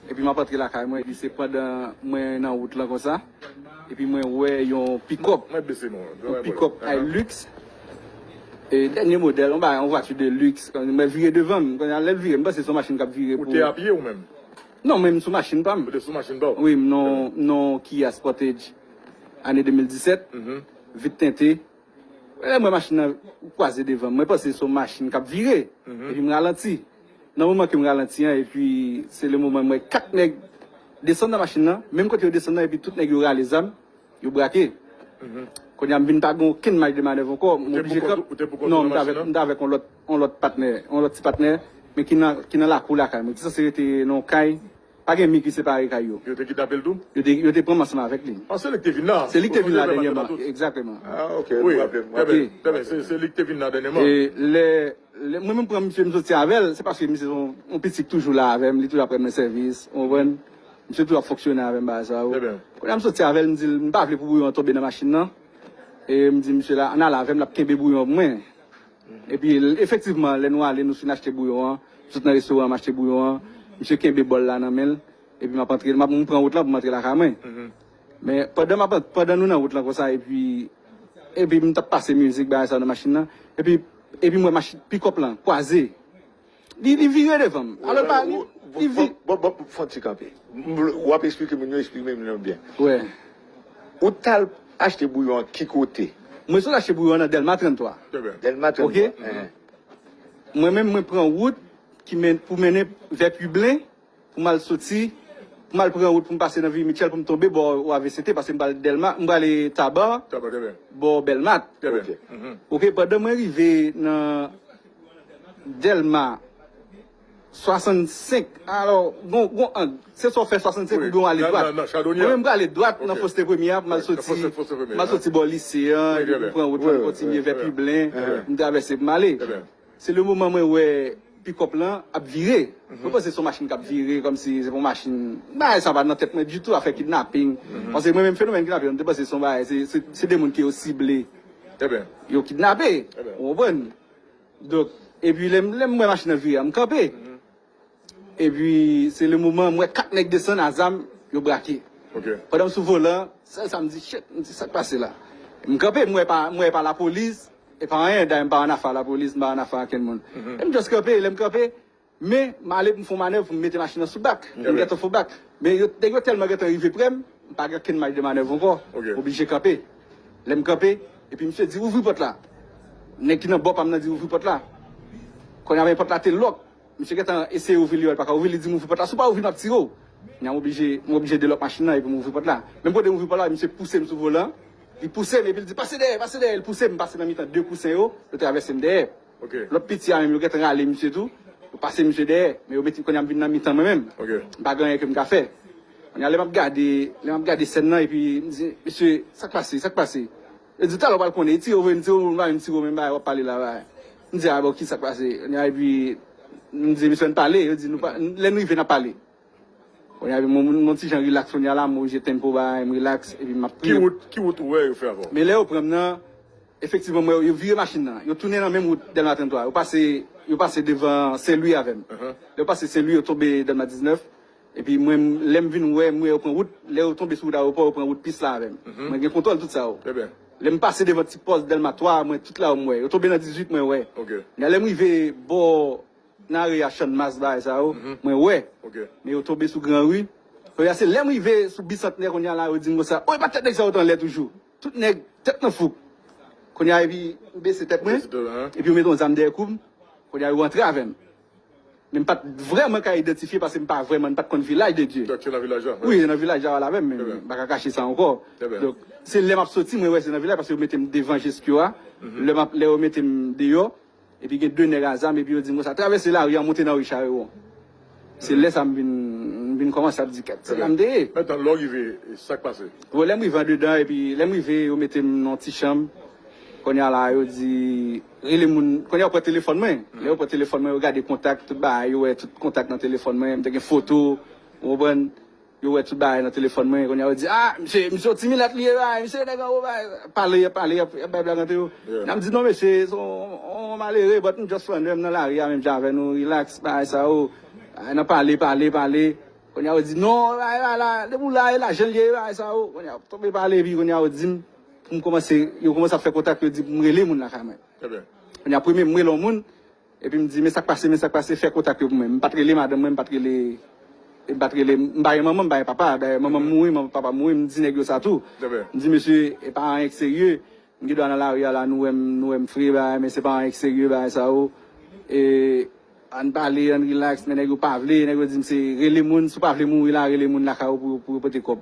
Epi map antre lakay mwen epi se pandan mwen nan wout lan konsa epi mwen wè yon pikòp, yon pikòp Hilux e dènye modèl, yon bagay yon vwati de luxe, mwen vire devan m, kounye a lèl vire m panse se yon machin kap vire pou. Ou te a pye ou menm? Non mwen m sou machin pa m. Ou te sou machin pa w? Wi m nan yon Kia Sportage ane 2017, vit tente. Lèm wè machin nan kwaze devanm mwen panse son machin kap vire epi m ralanti nan moman kem ralanti an epi se le moman m wè 4 nèg desann nan machin nan menm kote yo desann nan epi tout nèg yo rale zam yo brake kounya m vin pa gen okenn maj de manèv ankò m oblije kanpe non m t avèk yon lòt patnè yon lòt ti patnè men ki nan lakou lakay mwen ki sanse rete nan yon kay. Pa gen mi ki separe kay yo. Yo te kidnape l tou? Yo te yo te pran m ansanm avèk li. Ah se li k te vin la. Se li k te vin la dènyèman. Egzakteman. Ah ok, m raple m. Trè byen, trè byen. Se li k te vin la dènyèman. E lè lè mwen menm m pran misye m soti avè l, se paske misye se yon yon piti k toujou la avè m, li toujou ap rann mwen sèvis, ou konprann? Misye toujou ap fonksyone avè m bagay sa yo. Trè byen. Kounye a m soti avè l, m di l m pa vle pou bouyon an tonbe nan machin nan. E m di misye la, an n al avè m, l ap kenbe bouyon pou mwen. Epi, efektivman, lè nou ale, nou fin achte bouyon an, m sot nan restoran an, m achte bouyon an, misye kenbe bòl la nan men l, epi m ap antre, m ap, m pran wout lan pou m antre lakay mwen. Men, pandan m ap, pandan nou nan wout lan konsa, epi, epi m t ap pase mizik, bagay sa yo nan machin nan, epi, epi m wè machi, pick-up lan kwaze. Li li vire devan m. Alò l pa li li vi. Bon bon fon ti kanpe. M vle w ap esplike moun yo esplike moun yo byen. Wè. Ou t al achte bouyon an ki kote? Mwen sot achte bouyon an nan Dèlma 33. Dèlma 33. Ok. Mwen menm mwen pran wout ki men pou mennen vè Piblen. Pou m al soti, pou m al pran wout pou m pase nan Vieux Mitchel pou m tonbe bò OAVCT paske m pral Dèlma, m prale Taba bò Bèlmat. Ok, pandan mwen rive nan Dèlma 65, alò gon gon ang, se swa w fè 65 oubyen w ale dwat. Mwen menm m prale dwat nan Foste Premye a pou m al soti, m al soti bò Lise an epi pou m pran wout la m kontinye vè Piblen, m travèse pou m ale. Se le moman mwen wè pikòp lan ap vire. Mwen panse son machin kap vire kòmsi se pa yon machin. Bagay sa pa nan tèt mwen ditou afè kidnaping. Paske mwen menm fenomèn kidnaping lan m te panse son bagay se se de moun ke yo sible yo kidnape ou konprann. Donk epi lèm lèm wè machin nan vire a m kanpe. Epi se le moman m wè 4 nèg desann a zam, yo brake. Pandan m sou volan, sèl sa m di, Shit! M di, sa k pase la? M kanpe, m wè e pa lapolis, e pa anyen. Dayè m pa ann afe a lapolis, m pa ann afe a ankenn moun. E m just kanpe. Lè m kanpe, men m ale pou m fè yon manèv pou m mete machin nan sou bak. M gentan fè yon bak. Men nèg yo tèlman gentan rive pre m, m pa gen ankenn maj de manèv ankò. M oblije kanpe. Lè m kanpe, epi misye di, Ouvri pòt la! Nèg ki nan bò pa m nan di, Ouvri pòt la! Kounye a men pòt la te lòk. Misye gentan eseye ouvri li yo li paka ouvri li dim ouvri pòt la si w pa ouvri map tire w nyan m oblije m oblije delòk machin nan epi m ouvri pòt la menm kote m ouvri pòt la misye pouse m sou volan li pouse m epi l di pase dèyè pase dèyè l pouse m m pase nan mitan 2 kousen yo yo travèse m dèyè lòt piti a menm yo gentan rale misye tou yo pase misye dèyè men yo mete kounya m vin nan mitan mwen menm m pa gen anyen ke m ka fè kounya lè map gade lè map gade sèn nan epi m di mesye sak pase sak pase Yo di talè w pral konn e ti yo vre m ti yo m pa menm siwo menm bagay wap pale la bagay m di a bon kisak pase kounye a epi m di misye ann pale yo di nou pa lè n rive nap pale kounye a epi m m on ti jan rilaks kounye a la m oblije tempo bagay m rilaks epi map priye Ki wout ou wè yo fè avè w? Men lè yo pran m nan efektivman m wè yo vire machin nan yo tounen nan menm wout dèlma 33 yo pase yo pase devan senlwi avè m lè yo pase senlwi yo tonbe dèlma 19 Epi mwen m lè m vin wè m wè yo pran wout lè yo tonbe sou wout aewopò yo pran wout pis la avè m mwen gen kontwòl tout sa yo lè m pase devan ti pòs dèlma 3 a mwen tout la yo m wè yo tonbe nan 18 mwen wè men lè m rive bò nan are a channmas bagay sa yo mwen wè men yo tonbe sou gran ri kounye a se lè m rive sou bisantnè kounye a la yo di m konsa oh epa tèt nèg sa yo t anlè toujou tout nèg tèt nan fouk kounye a epi m bese tèt mwen epi yo mete yon zam dèyè kou m kounye a yo antre avè m. Men m pa t vrèman ka idantifye paske m pa vrèman, n pa t konn Vilaj de Dye. Donk se nan Vilaj la? Wi, se nan Vilaj la wè la avè m, men m pa ka kache sa ankò. Donk, se lè m ap soti mwen wè se nan Vilaj paske yo mete m devan Jeskyo a. Lè m ap, lè yo mete m deyò, epi gen de nèg a zam epi yo di m konsa, travèse lari an, monte nan ri Charewon. Se lè sa m vin, m vin kòmanse ap di kèt, se la m te ye. Metan, lè w rive, sa k pase? Bon, lè m rive andedan epi lè m rive yo mete m nan yon ti chanm. Kounye a la a yo di. Rele moun, kounye a yo pran telefòn mwen. Lè yo pran telefòn mwen, yo gade kontak, tout bagay, yo wè tout kontak nan telefòn mwen, m te gen foto, ou konprann, yo wè tout bagay nan telefòn mwen, kounye a yo di, a, mesye, misye yon ti milat li ye bay, misye yon nèg anwo bay, pale, y ap pale, y ap bay blag antre yo. Lè a m di, non mesye, se yon malere, but m just flanè, m nan lari a menm jan avè nou, relax, bagay sa yo, bagay nan pale, pale, pale, kounye a yo di, non, bagay la, depi w la, e lajan l ye, e bagay sa yo, kounye a, tonbe pale, epi kounye a yo di m. M kòmanse, yo kòmanse ap fè kontak, yo di pou m rele moun lakay mwen. Kounye a premye m rele yon moun, epi m di men sa k pase, men sa k pase, fè kontak yo pou mwen. M pa t rele madanm mwen, m pa t rele, m pa t rele, m pa gen manman, m pa gen papa. Dayè manman m mouri, papa m mouri, m di nèg yo sa tou. M di mesye e pa anyen k serye, m gen dwa nan lari a la nou wè m, nou wè m fre bagay men se pa anyen k serye bagay sa yo. E ann pale, ann rilaks men nèg yo pa vle, nèg yo di m se rele moun, si w pa vle mouri la rele moun lakay ou pou yo pote kòb.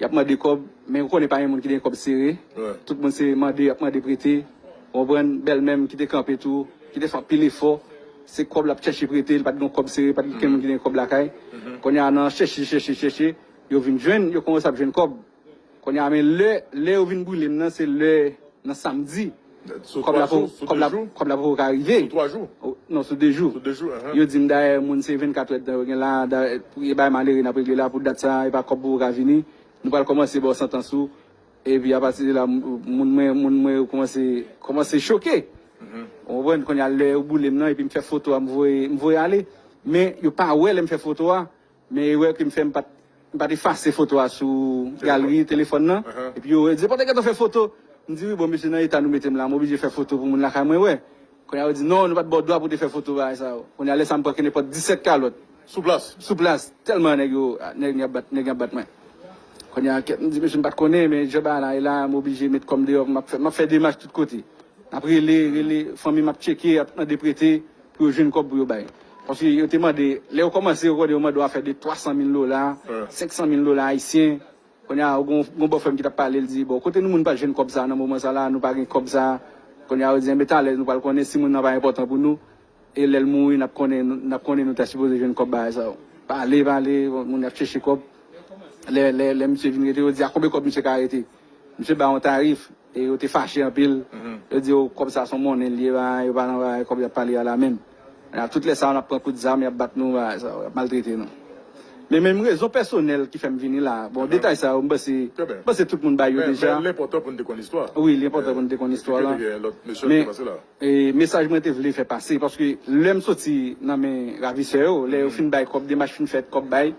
Yap mande kob men ou konnen pa gen moun ki gen kob sere tout moun se mande yap mande prete ou konprann bèlmèm kite kanpe tou kite fè anpil efò se kob lap chèche prete li pat gon kob sere pat gen oken moun ki gen kob lakay konnya nan chèche chèche chèche yo vin jwenn yo komanse ap jwenn kob konnya men lè lè yo vin brilem nan se lè nan samdi. Kòb la pou kòb la poko ka rive. Sou 3 jou? Non sou 2 jou. Sou 2 jou ahan. Yo dim dayè moun se 24 èdtan yo gen la dayè pou e bay malere nap regle la pou dat sa epa kòb poko ka vini nou pral kòmanse baw santans ou epi apati de la moun mwen moun mwen yo kòmanse kòmanse choke ou konprann kounya lè yo boulem nan epim fè foto a m voye m voye ale men yo pa wè lèm fè foto a. Men erè ke m fè m pat m pat efase foto a sou galri telefòn nan epi yo di pa te gentan fè foto m di wi bon mesye nan eta nou mete m la m oblije fè foto pou moun lakay mwen wè kounye a yo di non nou pat ba w dwa pou w te fè foto bagay sa yo kounye a lè sa m pran kenepòt 17 kalòt sou plas sou plas tèlman nèg yo nèg ap bat nèg y ap bat mwen kounye a kèt m di mesye m pat konnen men jan bagay la ye la m oblije met kò m deyò m ap fè m ap fè demach tout kote m ap rele rele fanmi m ap tcheke ap mande prete. Pou yo jwenn kòb pou yo bay. Paske yo te mande, lè yo kòmanse yo konnen yo mande yon afè de 300 mil dola, 500 mil dola ayisyen. Kounye a, gen yon bòfrè m ki t ap pale, l di, bon, kote nou moun pa jwenn kòb sa a nan moman sa a la a, nou pa gen kòb sa a. Kounye a, yo di, enben talè nou pral konnen si moun nan pa enpòtan pou nou. E lè l mouri n ap konnen, n ap konnen nou ta sipoze jwenn kòb bagay sa yo. Pale, pale, moun y ap chèche kòb. Lè, lè, lè misye vin rete, yo di a konbe kòb misye ka rete. Misye ba yon tarif e yo te fache anpil. Yo di yo kòb sa son monnen li ye bagay yo pa nan bagay kòb yap pale a la menm. Nan tout lè sa yo nap pran kout zam yap bat nou bagay sa yo yap maltrete nou. Men menm rezon pèsonèl ki fèm vini la bon detay sa yo mpanse mpanse tout moun bay yo deja. Men li enpòtan pou nou te konn istwa. Wi li enpòtan pou nou te konn istwa lan. Eksplike nou gen lòt mesye ki te pase la. E mesaj mwen te vle fè pase paske lè m soti nan men ravisè yo, lè yo fin bay kòb, demach fin fèt, kòb bay,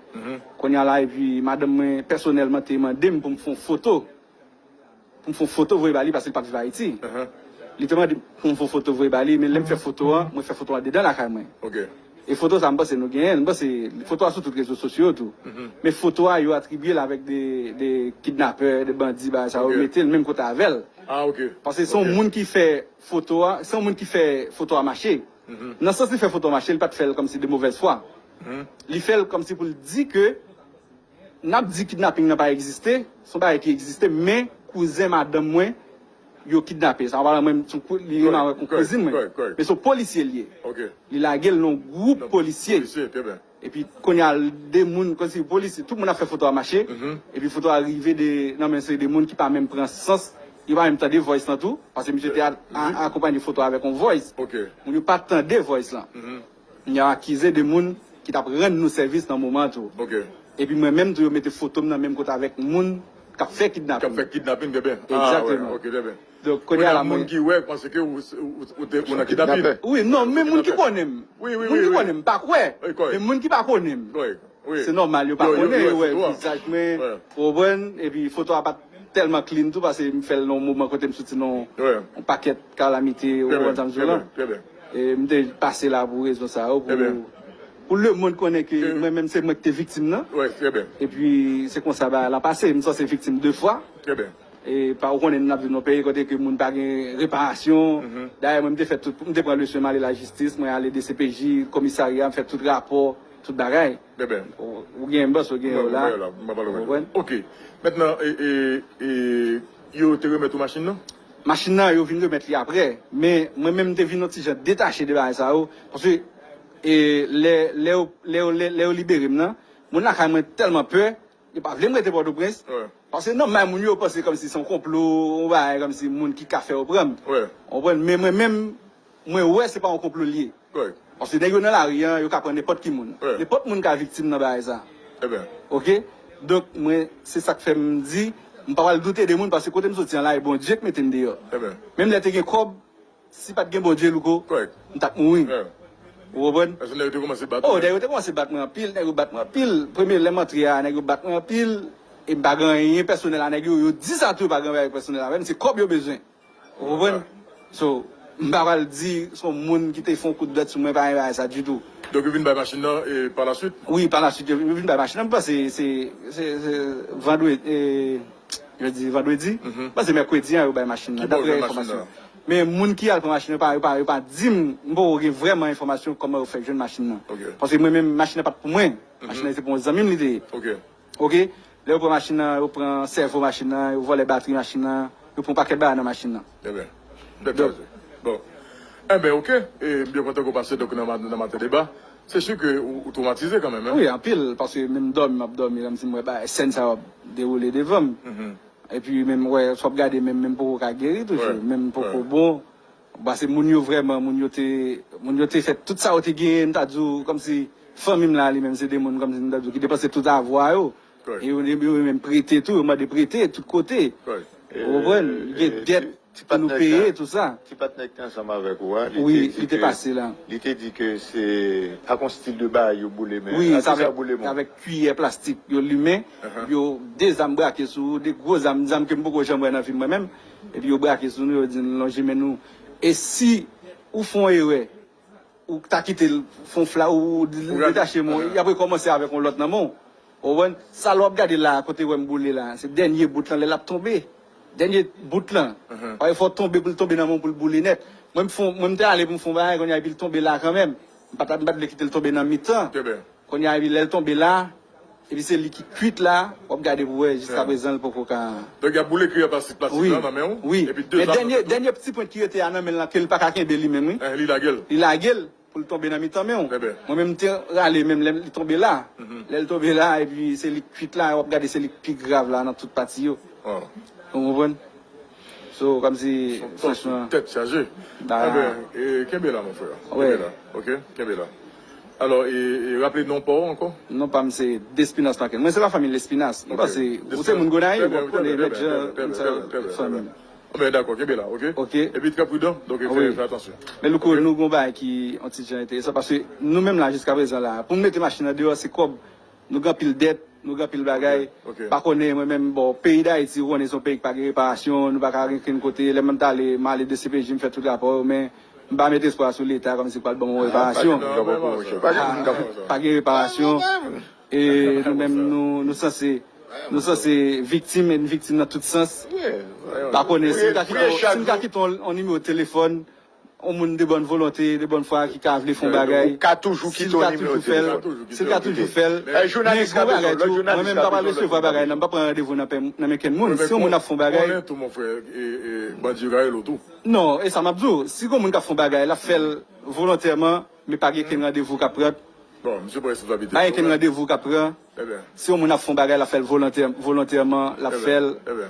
kounye a la epi madanm mwen pèsonèlman te mande m pou m fè yon foto, pou m fè yon foto voye ba li paske li pa p viv Ayiti. Li te mande m pou m fè yon foto voye ba li men lè m fè foto an, mwen fè foto an andedan lakay mwen. E foto sa m panse nou genyen l, m panse foto a sou tout rezo sosyo yo tou. Men foto a yo atribye l avèk de kidnapè, de bandi bagay sa yo mete l menm kote avè l. Paske se yon moun ki fè foto a, se yon moun ki fè foto a mache. Nan sans li fè foto a mache li pa t fè l kòmsi de movèz fwa. Li fè l kòmsi pou l di ke. Nap di kidnaping nan pa egziste, son bagay ki egziste men kouzen madanm mwen yo kidnape sa palan mwen li menm avèk yon kouzin mwen men son polisye li ye li lagel nan gwoup polisye epi kounya l de moun kòmsi polisye tout moun ap fè foto a mache epi foto a rive de nan men seri de moun ki pa menm pran sans yo pa menm tande voice lan tou paske misye te akonpanye foto a avèk yon voice moun yo pa tande voice lan. M ya akize 2 moun ki tap rann nou sèvis nan moman an tou. Epi mwen menm tou yo mete foto m nan menm kote avèk moun kap fè kidnapin. Egzateman. Donk kounye a la mwen. Gen moun ki wè panse ke ou te nan kidnapin. Wi non men moun ki konnen m. Moun ki konnen m pa kwè. Men moun ki pa konnen m. Se nòmal yo pa konnen yo wè vizaj mwen ou konprann. Epi foto a pat tèlman clean tou pase m fè l nan yon moman kote m soti nan yon pakèt kalamite ou konprann sa m di w la. M te pase la pou rezon sa yo, pou lemonn konnen ke mwen menm se mwen ki te viktim nan. E pi se konsa bagay la pase. M sanse viktim 2 fwa. E pa ou konnen nou n ap viv nan yon peyi kote ke moun pa gen reparasyon. Dayè mwen m te fè tout, m te pran leson m ale lajistis, mwen ale dcpj, komisarya, m fè tout rapò, tout bagay. Ou gen yon bòs, ou gen yon la. Ou konprann? Ok. Mentnan, e yo te remèt ou machin nan? Machin nan, yo vin remèt li aprè. Men, mwen menm m te vin yon ti jan detache de bagay sa yo. Paske, lè, lè yo, lè yo, lè yo libere m nan, moun lakay mwen tèlman pè, yo pa vle m rete Pòtoprens. Paske nan may moun yo, yo panse kòmsi se yon konplo, yon bagay kòmsi moun ki ka fè yo pran m. Ou konprann? Men mwen menm. Mwen wè se pa yon konplo li ye. Paske nèg yo nan lari an, yo ka pran nenpòt ki moun. Nenpòt moun ka viktim nan bagay sa a. Ok? Donk mwen, se sa k fè m di, m pa pral doute de moun paske kote m soti an la, e Bondye k mete m deyò. Menm lè te gen kòb, si pa t gen Bondye, Louko, m t ap mouri. Ou konprann? Paske nèg yo te kòmanse bat ou. O, nèg yo te kòmanse bat mwen anpil. Nèg yo bat mwen anpil. Premye lè m antre a, nèg yo bat mwen anpil. E m pa gen anyen pèsonèl a nèg yo. Yo di sa tou yo pa gen anyen pèsonèl avè m. Se kòb yo bezwen. Ou konprann? So, m pa pral di s on moun ki te fè on kout bèt sou mwen pa renmen bagay sa ditou. Donk yo vin bay machin nan e pa la swit? Wi, pa la swit yo vin bay machin nan. M panse se se vandredi, e yo di vandredi? M panse mèkredi an yo bay machin nan daprè enfòmasyon yo. Men moun ki al pran machin nan yo pa yo pa di m, m poko gen vrèman enfòmasyon kòman yo fè jwenn machin nan. Paske mwen menm machin nan pa t pou mwen. Machin nan se pou on zanmi m li te ye. Ok lè yo pran machin nan yo pran sèvo machin nan yo vòlè batri machin nan yo pran yon pakèt bagay nan machin nan. Ebyen tèt chaje bon enben ok m byen kontan ke w pase donk nan maten deba se su ke ou twomatize kanmenm hein. Wi anpil paske menm dòmi m ap dòmi lè m di m wè bagay sèn sa yo ap dewoule devan m epi menm wè sou ap gade menm menm poko ka geri toujou menm poko bon. Ou pase moun yo vrèman moun yo te moun yo te fè tout sa yo te genyen m ta di w kòmsi fanmi m la li menm se de moun kòmsi m ta di w ki depanse tout avwa yo e yo yo menm prete tou yo mande prete tout kote ou konprann gen dèt pou nou peye tout sa. Ti patnè ki te ansanm avèk ou a wi li te pase la li te di ke se ak yon stil de bagay yo boule men wi sa vle avèk kwiyè plastik yo limen yo de zam brake sou ou de gwo zam zam ke m poko janm wè nan fim mwen menm. Epi yo brake sou nou, yo di n lonje men nou. E si ou fè yon erè, ou ta kite l fè yon fla, ou detache men w, y ap rekòmanse avèk yon lòt nan men w. Ou konprann? Sa l w ap gade la a, kote wè m boule la a, se dènye bout lan lè l ap tonbe. Dènye bout lan. Paske fò l tonbe pou l tonbe nan men w pou l boule nèt. Mwen m fè yon, mwen m te ale pou m fè yon bagay kounye a epi l tonbe la a kanmenm. M pa t vle kite l tonbe nan mitan. Konya epi lèl tonbe la epi se li ki kwit la wap gade pou wè jiska prezan li poko ka. Donk yap boule kriyè plastik plastik la nan menw wi men dènye dènye pti pwent ki rete a nan menl lan kel paka kenbe li menm wi eh li lagel li lagel poul tonbe nan mitan menw mwen menm mte rale menm lèm li tonbe la lèl tonbe la epi se lik kwit la wap gade se lik pi grav la nan tout pati yo ou konprann. So kom si franchman. Son tet chaje. Enben e kenbe la mon frère. Kenbe la ok kenbe la. Alors e raple non paw anko. Non pam se Despinas Markel. Mwen se pa fanmi Lespinas. Mwen panse ou se moun Gonayiv. Trè byen trè byen trè byen trè byen trè byen. Enben dako kenbe la ok. Ok. Epi trè prudan donk fè atansyon. Men louko nou gon bagay ki yon ti jan enteresan paske nou menm la jiska prezan la pou nou mete machin nan deyo se kob. Nou gen anpil dèt, nou gen anpil bagay, pa konnen mwen menm bon peyi dayiti ou konnen son peyi ki pa gen reparasyon, nou pa ka al okenn kote, lè mwen ta ale m ale dcpj m fè tout rapò yo men m pa met espwa sou leta kòm si l pral ban mwen reparasyon. Pa gen reparasyon e nou menm nou sanse nou sanse viktim e n viktim nan tout sans pa konnen si m ka kite yon nimewo telefòn. yon moun de bòn volonte, de bòn fwa ki ka vle fè yon bagay, si l ka toujou kite yon nimewo telefòn, si l ka toujou fè l, men gwo bagay tou, mwen menm m pa pral resevwa bagay nan, m pa pran randevou nan men kenn moun, si yon moun ap fè yon bagay, non, e sa m ap di w, si gwo moun k ap fè yon bagay, l ap fè l volontèman, men pa gen kenn randevou k ap pran, pa gen kenn randevou k ap pran, si yon moun ap fè yon bagay, l ap fè l volontèman, l ap fè l.